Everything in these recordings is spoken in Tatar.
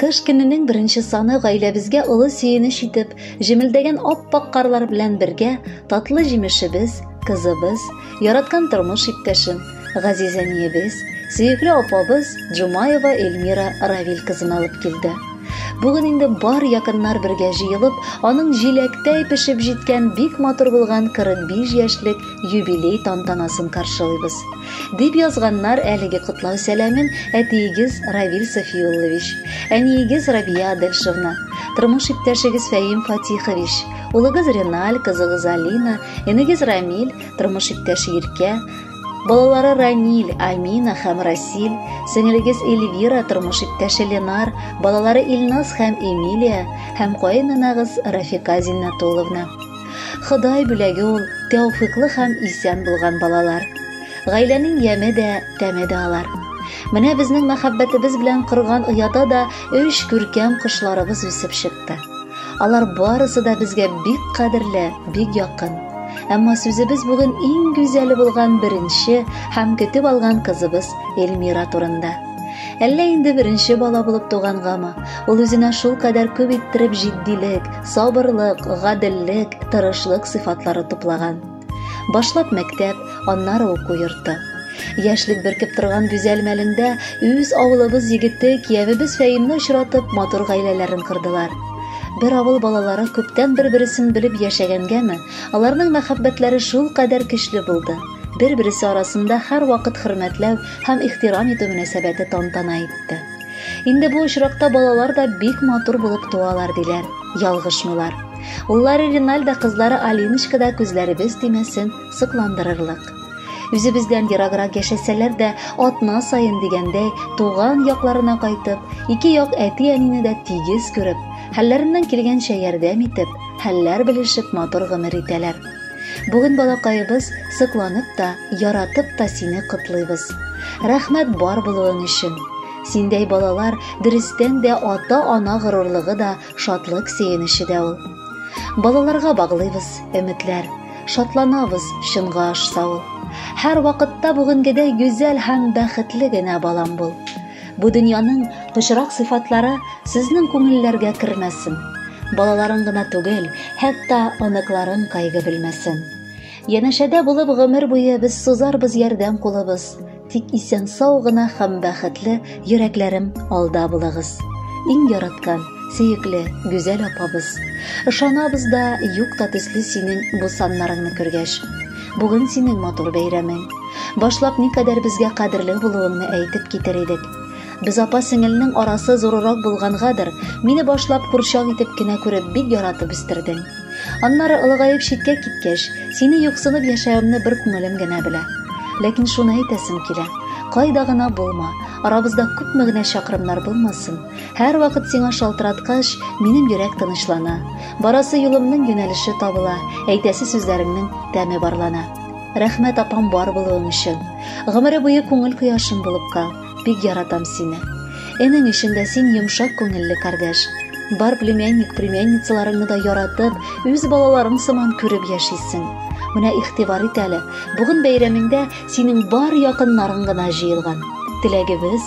Кыш көненең беренче саны гаиләбезгә олы сөенеч итеп, җемелдәгән ап-ак карлар белән бергә татлы җимешебез, кызыбыз, яраткан тормыш иптәшем, газиз әниебез, сөекле апабыз Джумаева Эльмира Равил кызын алып килде. Бүген инде бар якыннар бергә җыелып, аның җиләктәй пешеп җиткән бик матур булган 45 яшьлек юбилей тантанасын каршылыйбыз. Дип язганнар әлеге котлау сәламен әтиегез Равил Софиуллович, әниегез Рабия Адельшевна, тормыш иптәшегез Фәим Фатихович, улыгыз Реналь, кызыгыз Алина, энегез Рамиль, тормыш иптәше Иркә, Балалары Раниль, Амина һәм Расиль, сеңелегез Эльвира, тормыш иптәше Ленар, балалары Илназ һәм Эмилия һәм каенанагыз Рафика Зиннатулловна. Ходай бүләге ул тәүфиклы һәм исән булган балалар. Гаиләнең яме дә, тәме дә алар. Менә безнең мәхәббәтебез белән корган ояда да өч күркәм кошларыбыз үсеп чыкты. Алар барысы да безгә бик кадерле, бик якын. Әмма сүзебез бүген иң гүзәле булган беренче һәм көтеп алган кызыбыз Эльмира турында. Әллә инде беренче бала булып тугангамы? Ул үзенә шул кадәр күп иттереп җитдилек, Сабырлык, гаделлек, тырышлык сыйфатлары туплаган. Башлап мәктәп, аннары уку йорты. Яшьлек бөркеп торган гүзәл мәлендә үз авылыбыз егете киявебез Фәимне очратып, матур гаиләләрен кордылар. Бер авыл балалары күптән бер-бересен белеп яшәгәнгәме, аларның мәхәббәтләре шул кадәр көчле булды. Бер-бересе арасында һәрвакыт хөрмәтләү һәм ихтирам итү мөнәсәбәте тантана итте. Инде бу очракта балалар да бик матур булып туалар диләр. Ялгышмыйлар. Уллары Риналда кызлары Алиночка да күзләребез тимәсен сокландырырлык. Үзебездән ераграк яшәсәләр дә, атна саен дигәндәй, туган якларына кайтып, ике як әти-әнине дә тигез күреп, хәлләреннән килгәнчә ярдәм итеп, хәлләр белешеп матур гомер итәләр. Бүген балакаебыз сокланып та, яратып та сине котлыйбыз. Рәхмәт бар булуың өчен. Синдәй балалар дөрестән дә ата-ана горурлыгы да, шатлык сөенече дә ул. Балаларга баглыйбыз өметләр, шатланабыз чынга ашса ул. Һәр вакытта бүгенгедәй гүзәл һәм бәхетле генә балам бул. Бу дөньяның пычрак сыйфатлары сезнең күңелләргә кермәсен. Балаларың гына түгел, хәтта оныкларың кайгы белмәсен. Янәшәдә булып гомер буе без сузарбыз ярдәм кулыбыз. Тик исән сау гына һәм бәхетле йөрәкләрем алда булыгыз. Иң яраткан, сөекле, гүзәл апабыз. Ышанабыз да, юк та төсле синең бу саннарыңны күргәч. Бүген синең матур бәйрәмең. Башлап никадәр безгә кадерле булуыңны әйтеп китер идек. Без апа-сеңелнең арасы зурырак булгангадыр, мине башлап курчак итеп кенә күреп бик яратып үстердең. Аннары олыгаеп читкә киткәч, сине юксынып яшәвемне бер күңелем генә белә. Ләкин шуны әйтәсем килә. Кайда гына булма, арабызда күпме генә чакрымнар булмасын, һәрвакыт сиңа шалтыраткач, минем йөрәк тынычлана. Барасы юлымның юнәлеше табыла, әйтәсе сүзләремнең тәме барлана. Рәхмәт апам бар булуың өчен. Гомере буе күңел кояшым булып кал. Бик яратам сине. Энең өчен дә син йомшак күңелле кардәш. Бар племянник, племянницаларыңны да яратып, үз балаларың сыман күреп яшисең. Менә ихтибар ит әле, бүген бәйрәмеңдә синең бар якыннарың гына җыелган. Теләгебез,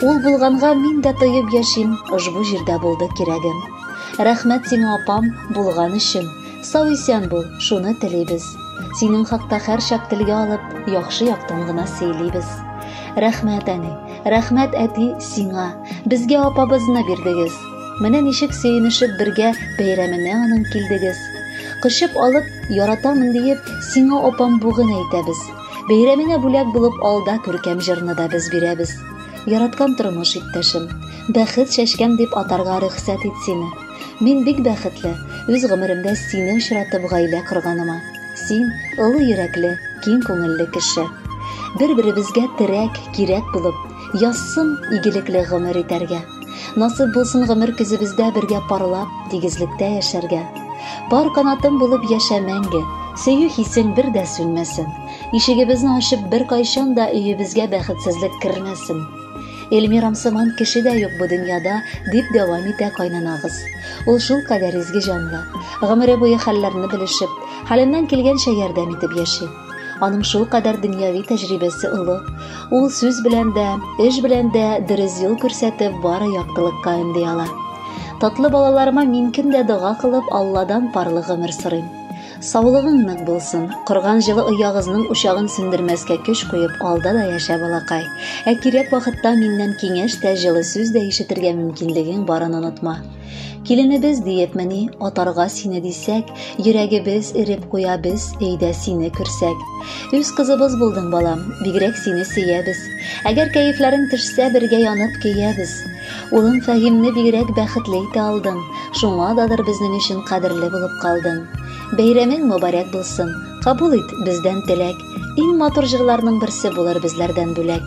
Ул булганга мин дә тоеп яшим, ошбу җирдә булды кирәгем. Рәхмәт сиңа, апам, булган өчен. Сау-исән бул, шуны телибез. Синең хакта һәрчак телгә алып, яхшы яктан гына сөйлибез. Рәхмәт, әни, рәхмәт, әти, сиңа. Безгә апабызны бирдегез. Менә ничек сөенешеп бергә бәйрәменә аның килдегез. Кочып алып, яратамын диеп, сиңа, апам, бүген әйтәбез. Бәйрәмеңә бүләк булып алда күркәм җырны да без бирәбез. Яраткан тормыш иптәшем, бәхет чәчкәм дип атарга рөхсәт ит сине. Мин бик бәхетле, үз гомеремдә сине очратып гаилә корганыма. Син олы йөрәкле, киң күңелле кеше. Бер-беребезгә терәк, кирәк булып, язсын игелекле гомер итәргә. Насып булсын гомер көзебездә бергә парлап, тигезлектә яшәргә. Пар канатым булып яшә мәңге, сөю хисең бер дә сүнмәсен. Ишегебезне ачып бер кайчан да өебезгә бәхетсезлек кермәсен. Эльмирам сыман кеше дә юк бу дөньяда, дип дәвам итә кайнанабыз. Ул шул кадәр изге җанлы. Гомере буе хәлләрне белешеп, хәленнән килгәнчә ярдәм итеп яши. Аның шул кадәр дөньяви тәҗрибәсе олы. Ул сүз белән дә, эш белән дә дөрес юл күрсәтеп, бары яктылыкка өнди ала. Татлы балаларыма мин көн дә дога кылып, Алладан парлы гомер сорыйм. Саулыгың нык булсын. Корган җылы оягызның учагын сүндермәскә көч куеп, алда да яшә, балакай. Ә кирәк вакытта миннән киңәш тә, җылы сүз дә ишетергә мөмкинлегең барын онытма. Киленебез диепмени, атарга сине дисәк, йөрәгебез эреп куя без, әйдә сине күрсәк. Үз кызыбыз булдың, балам, бигрәк сине сөябез. Әгәр кәефләрең төшсә, бергә янып көябез. Улым Фәһимне бигрәк бәхетле итә алдың, шуңа дадыр безнең өчен кадерле булып калдың. Бәйрәмең мөбарәк булсын, кабул ит бездән теләк. Иң матур җырларның берсе булыр безләрдән бүләк.